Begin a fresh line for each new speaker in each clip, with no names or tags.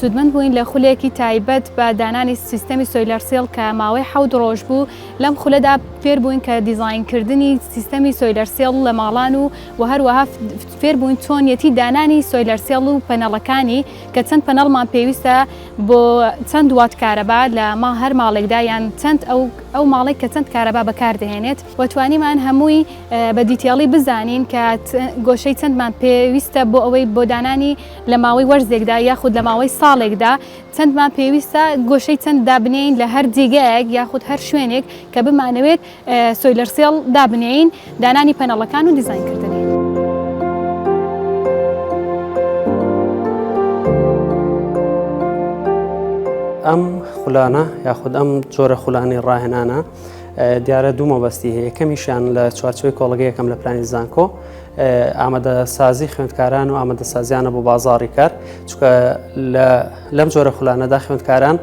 سوودمەند بووین لە خولێکی تایبەت بە دانانی سیستەمی سۆیلەر سێڵ کە ماوەی حەوت ڕۆژ بوو لەم خولەدا فێر بووین کە دیزاینکردنی سیستەمی سۆیلەر سێڵ لە ماڵان و و هەروەها فێر بووین چۆنیەتی دانانی سۆیلەر سێڵ و پەنەڵەکانی کە چەند پەنەڵمان پێویستە بۆ چەند وات کارەبا لە ما هەر ماڵێکدا یان چەند ئەو ئەو ماڵێک کە چەند کارەبا بەکاردەهێنێت و توانیمان هەمووی بە دیتێڵی بزانین کە گۆشەی چەندمان پێویستە بۆ ئەوەی بۆ دانانی لە ماوەی وەرزێکدا یاخود لە ماوەی ساڵێکدا چەندمان پێویستە گۆشەی چەند دابنێین لە هەر جێگایەک یاخود هەر شوێنێک کە بمانەوێت سۆیلەر سێڵ دابنێین دانانی پەنەڵەکان و دیزاینکردنی.
ئەم خولانە یاخود ئەم جۆرە خولانی ڕاهێنانە دیارە دوو مەبەستی هەیە یەکەمیشیان لە چوارچوی کۆڵگەیەکەم لە پلانی زانکۆ ئامادەسازی خوێندکاران و ئامادەسازیانە بۆ بازاری کار چکە لەم جۆرە خولانەدا خوێندکاران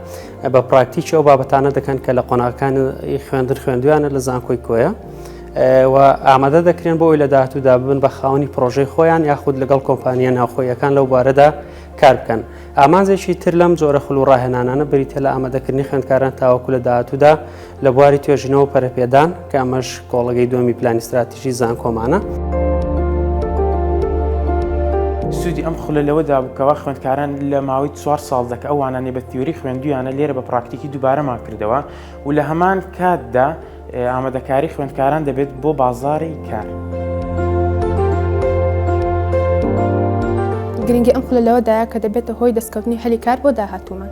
بە پراکتیکی ئەو بابەتانە دەکەن کە لە قۆناغەکانی خوێندن خوێندویانە لە زانکۆی کۆیە. و ئامادە دەکرێن بۆی لە داهاتوودا ببن بە خاونی پرۆژەی خۆیان یاخود لەگەڵ کۆمپانیە ناوخۆیەکان لەو بارەدا کار بکەن ئامانجێکی تر لەم جۆرە خول و ڕاهێنانانە بریتە لە ئامادەکردنی خوێندکاران تاوەکو لە داهاتوودا لە بواری توێژینەوە پەرەپێدان کە ئەمەش کۆڵگەی دومی پلانی استراتیژی زانکۆمانە.
سوودی ئەم خولە لەوەدا بکەوە خوێندکاران لە ماوەی چوار ساڵ دەکە ئەوانانی بە تیوری خوێندویانە لێرە بە پراکتیکی دووبارەمان کردەوە و لە هەمان کاتدا ئامادەکاری خوێندکاران دەبێت بۆ بازاری کار.
گرنگی ئەم خولە لەوەدایە کە دەبێتە هۆی دەستکەوتنی هەلی کار بۆ داهاتوومان.